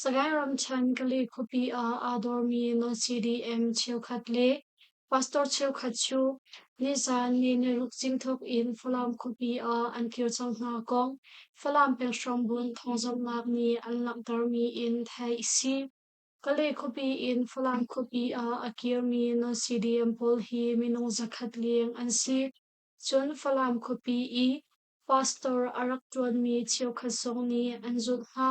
Sagaing ramṭhen Kali khuapi ah aa dormi na CDM cheukhat le pastor cheukhat cu nizan ni niruk cingthuk in Falam khuapi ah an kir cang hna kong Falam penghrambun thawngzamhnak nih an langhtermi in theih a si. Kali khuapi in Falam khuapi ah a kirmi na CDM pawl hi minung zakhat leng an si. Cun Falam khuapi i pastor a rak ṭuanmi cheukhat zong nih an zulh hna.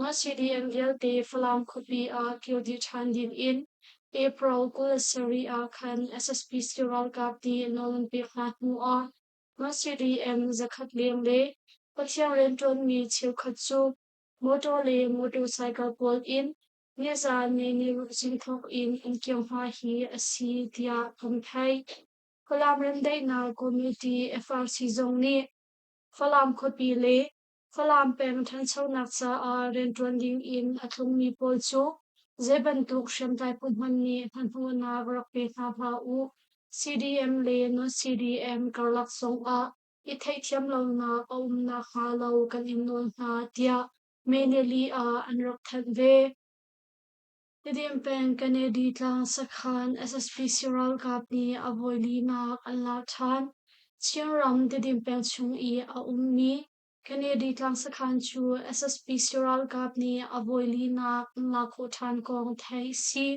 Mah-CDM vialte Falam khuapi ah kir dih ṭhan ding in April kul sarih ah khan SSPC ralkap nih nawl an pek hna hnu ah Mah-CDM zakhat leng le Pathian rianṭuanmi cheukhat cu motor le motorcycle pawl in nizaan neiniruk zing thawk in an kir hna hi a si tiah kan theih. Falam Remdaihnak Committee, FRC, zong nih Falam khuapi le Falam peng ṭhanchonak caah rianṭuan dingin a tlungmi pawl cu zei bantuk hriamtlai phu hmanh nih hmanhmawhnak rak pe hna hlah u. CDM le non-CDM karlak zongah i theihthiam lonak a um nakhnga lo kan in nawl hna, tiah May nili ah an rak thanh ve. Tedim peng Kennedy Tlang sakhan SSPC ralkap nih a voi linak an lak ṭhan. Chinram Tedim peng chung i a ummi Kennedy Tlang sakhan cu SSPC ralkap nih a voi linak an lak khawh ṭhan kong theih a si.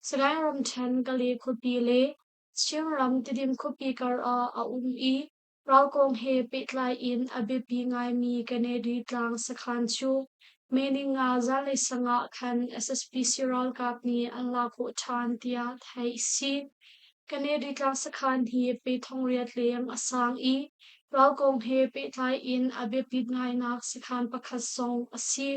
Sagaing ramṭhen Kale khuapi le Chinram Tedim khuapi kar ah a um i Ral kong he pehtlai in a biapi ngaimi Kennedy tlang sakhan cu Meninga zanlei sang ah khan SSPC ralkap nih an lak khawh ṭhan tiah theih a si. Kennedy tlang sakhan hi pe thong riat leng a sang i ral kong he pehtlai in a biapit ngainak sakhan pakhat zong a si.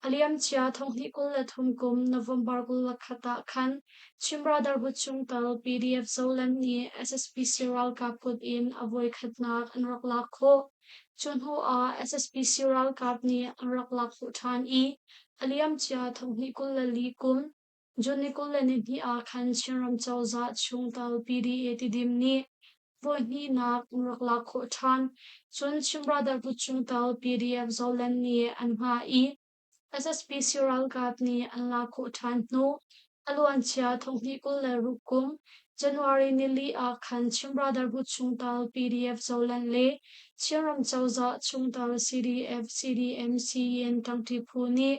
A liamcia thonghnih kul le thum kum November kul le khat ah khan Chin Brotherhood chung tal PDF Zoland nih SSPC ralkap kut in a voikhatnak an rak lak khawh. Cu hnu ah SSPC ralkap nih an rak lak khawh ṭhan i a liamcia thonghnih kul le li kum John Nicole nihnih ah khan Chinram cozah chung tal PDA tidim nih voihnihnak rak lak khawh ṭhan. Cun Chin Brotherhood chung tal PDF Zoland nih an hngah i SSP ralkap nih an lak khawh ṭhan hnu a luancia thonghnih kul le ruk kum January nili ah khan Chin Brotherhood chung tal PDF Zoland le Chinram cozah chung tal CDF CDM CEN ṭangṭi phu nih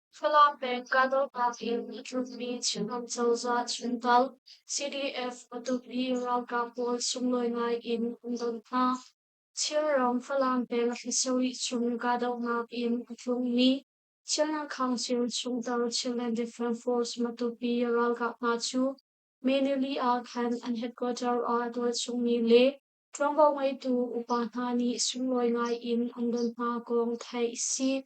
Falam peng Kahdohpah in a tlunmi Chinram cozah chuntal CDF a tukmi ralkap pawl sunglawi ngai in an don hna. Chinram Falam peng Hlisawih chung kahdohnak in a tlungmi Chinland Council chungtel Chinland Defence Force Matupi ralkap hna cu Manili ah khan an headquarter ah tualchungmi le ṭuanvo ngeitu upa hna nih sunglawi ngai in an don hna kong theih a si.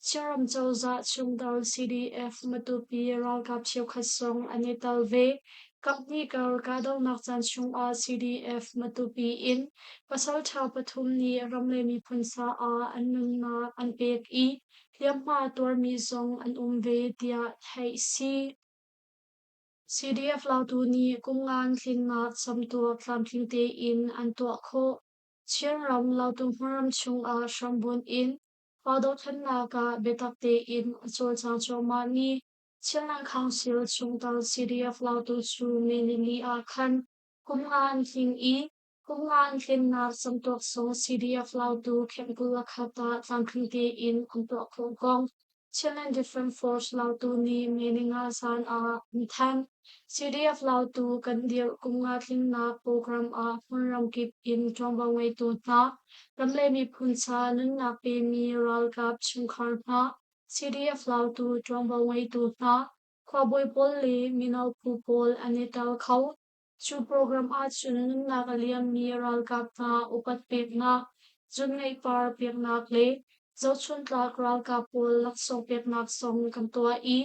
Chinram cozah chungtel CDF Matupi ralkap cheukhat sung an i tel ve. Kaphnih kar kahdohnak caan chungah CDF Matupi in pasalṭha pathum nih ram le miphun sa ah an nunnak an pek i hliamhma tuarmi zong an um ve tiah theih a si. CDF lautu nih kumngan tlinnak camtuak tlamtling tein an tuah khawh. Chinram lautu hmaram chungah hrambunh in Aa dohthlennak ah biatak tein a cawlcang cuahmah mi Thianlang Council chungtang CDF lautu cu Nilini ah khan kum nga an hling i kum nga an hlennak camtuak sung CDF lautu Khemkul Akhat ah tlamtling tein an tuah khawh kong Chin and Different Force lautu nih Meninga zan ah an thanh. CDF lautu kan dirh kum nga tlingnak program ah hmun ramkip in ṭuanvo ngeitu hna, ram le miphun sa nunnak pemi ralkap chungkhar hna, CDF lautu ṭuanvo ngeitu hna, khuabawi pawl le mino phu pawl an i tel kho. Cu program ahcun nunnak a liammi ralkap hna upat peknak, zungeipar peknak le zohchuntlak ralkap pawl laksawng peknak zong kan tuah i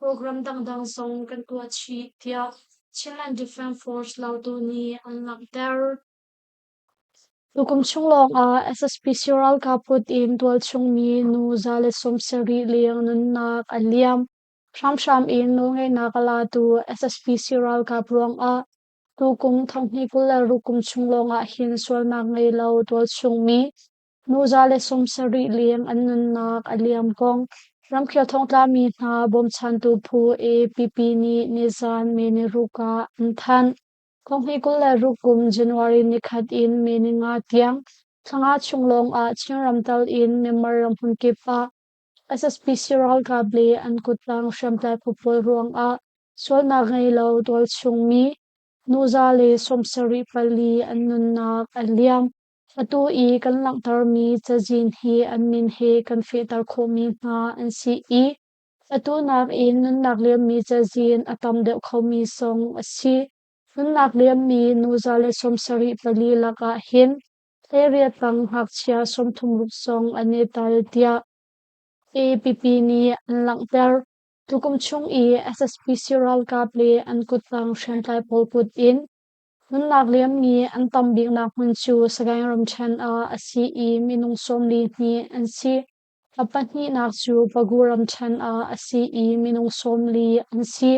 Program dangdang zong kan tuah chih, tiah Chin and Defence Force lautu nih an langhter. Tukum chung lawngah SSPC ralkap kut in tualchungmi nu za le sawm sarih leng nunnak a liam. Hramhram in nawlngeihnak a latu SSPC ralkap ruangah tukum thonghnih kul le rukum chung lawngah hin sualnak ngei lo tualchungmi Nuzale sung sarih leng an nunnak a liam kong ramkhel thongtlami hna bawmchantu phu APP nih nizan May ni ruk ah an thanh. Kong hnih kul le ruk kum January nikhat in May ni nga tiang thla chung lawng ah Chin ramtal in Myanmar ramhun kip ah SSPC ralkap le an kuttang hriamtlai pawl ruang ah sualnak ngei lo tualchung mi nuzale sung sarih pali an nunnak a liam. Atu i kan langhtermi cazin hi an min he kan fehter khawhmi hna an si i atu nak in nunnak liammi cazin a tam deuh khomi song a si. Nunnak liammi nuza le sawmsarih pali lakah hin thleiriat tang ngakchia sawmthum-ruk song an i tel tiah APP nih an langhter. Tukum chung i SSPC ralkap le an kuttang hriamtlai pawl kut in Nunnak liammi an tam biknak hmun cu Sagaing ramṭhen ah a si i minung sawmli hnih an si. A pahnihnak cu Pagu ramṭhen ah a si i minung sawmli an si.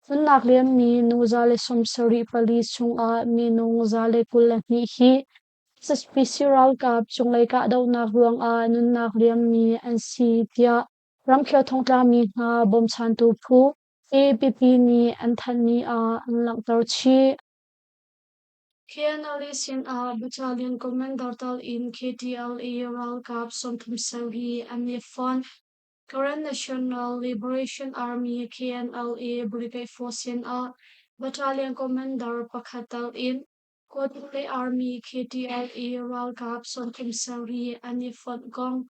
Nunnak liammi nu zale sawm sarih pali chungah minung zale kul le hnih hi saspisi ralkap cunglei kahdohnak ruangah nunnak liammi an si tiah ramkhel thongtlami hna bawmchantu phu Hi pipi nih an thanh ni ah an langhter chih. KNLA sinah Battalion Commander tal in KTLA ralkap sawmthum sang hi an i fonh. Karen National Liberation Army KNLA Brigade Force sinah Battalion Commander pakhat tal in Kotpule Army KTLA ralkap sawmthum sang hi an i fonh kong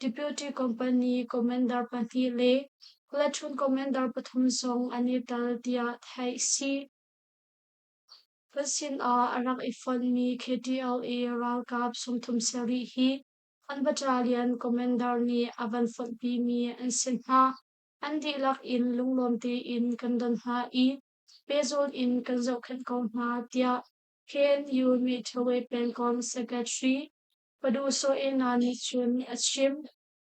Deputy company commander pahnih le platoon commander pathum zong an i tel tiah theih a si. Ka sinah a rak i fonhmi KTLA ralkap sungthum sarih hi an battalion commander nih a van fonhpimi an si hna. An dihlak in lunglawm tein kan don hna i pehzulh in kan zohkhenh ko hna, tiah KNU Mithrawe Pengkom Secretary Padusoena nih cun a chim,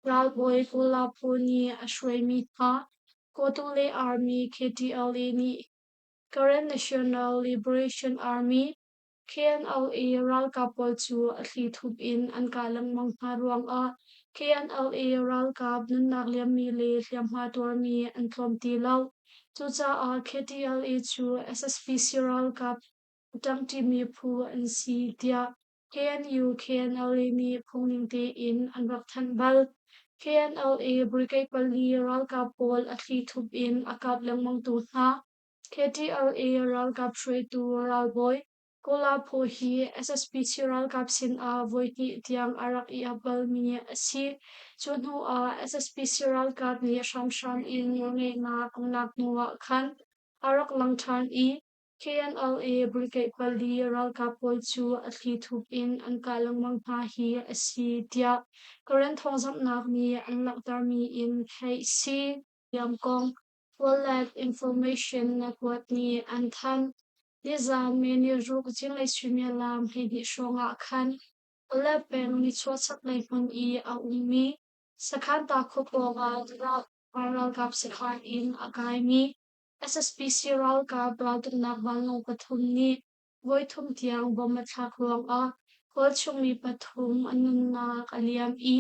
Ralbawi Kulapu nih a hruaimi hna, Kawtule Army KTLA nih Karen National Liberation Army, KNLA ralkap pawl cu a thlithup in an kah lengmang hna ruangah KNLA ralkap nunnak liammi le hliamhma tuarmi an tlawm ti lo. Cucaah KTLA cu SSPC ralkap a ṭangṭimi phu an si tiah KNU-KNLA nih phungning tein an rak thanh bal. KNLA brigade pali ralkap pawl a thli thup in a kap lengmangtu hna, KTLA ralkap hruaitu ralbawi Kola Phaw hi SSPC ralkap sinah voihnih tiang a rak i ap balmi a si. Cu hnu ah SSPC ralkap nih hramhram in nawlngeihnak an lak hnu ah khan a rak lang ṭhan i KNLA bulkeih pali ralkap pawl cu a thli thup in an kah lengmang hna hi a si tiah Karen thawngzamhnak nih an langhtermi in theih si. Liamkong Wildlife Information Network nih an thanh. Nizaan May ni ruk zinglei suimilam hleihnih hrawngah khan Olat peng nichuahchaklei hmun i a ummi Sakhan ta khuapawng ah ralkap sakhan in a kaimi SSPC ralkap raltuknak vanlawng pathum nih voithum tiang bomb a thlak ruangah khualchungmi pathum an nunnak a liam i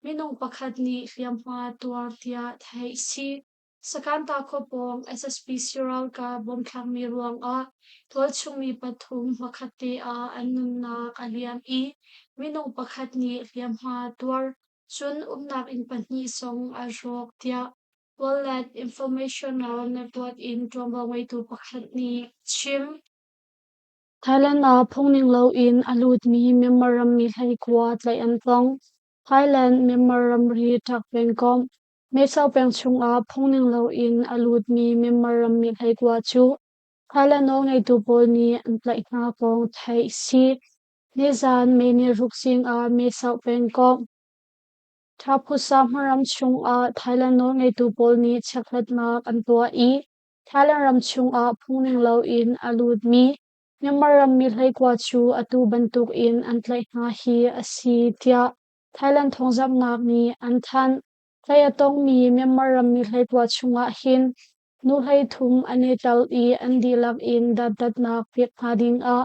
minung pakhat nih hliamhma tuar tiah theih a si. Sakanta khua pawng SSPC ralkap bomb thlakmi ruangah khualchungmi pathum hmakhat te ah an nunnak a liam i minung pakhat nih hliamhma tuar cun umnak inn pahnih zong a hrawk tiah Wallet information ah network in ṭuanvo ngeitu pakhat nih a chim. Thailand ah phungning loin a lutmi Myanmar rammi hleikua tlaih an tong. Thailand Myanmar ramri ṭak pengkomh Mesauk peng chungah phungning loin a lutmi Myanmar rammi hleikua cu Thailand aw ngeitu pawl nih an tlaih hna kong theih a si. Nizan May ni ruk zingah Mesauk pengkomh Taphusa hmaram chungah Thailand nawlngeitu pawl nih chiakhlatnak an tuah i Thailand ram chungah phung ning loin a lutmi Myanmar rammi hleikua cu atu bantukin an tlaih hna hi a si tiah Thailand thawngzamhnak nih an thanh. Tlaih a tongmi Myanmar rammi hleikua chungah hin nu hleithum an i tel i an dihlak in datdatnak pek hna dingah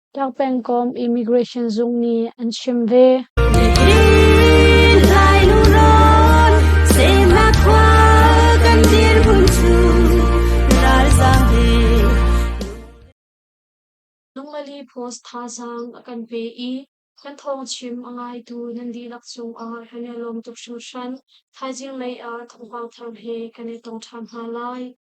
Tlak pengkom Immigration Zung nih an chim ve. Lunglali Post thazaang a kan pe i kan thawng chim a ngaitu nan dihlak cungah kan i lawm tuk hringhran. Thaizing lei ah thawngpang thar he kan i tong ṭhan hna lai.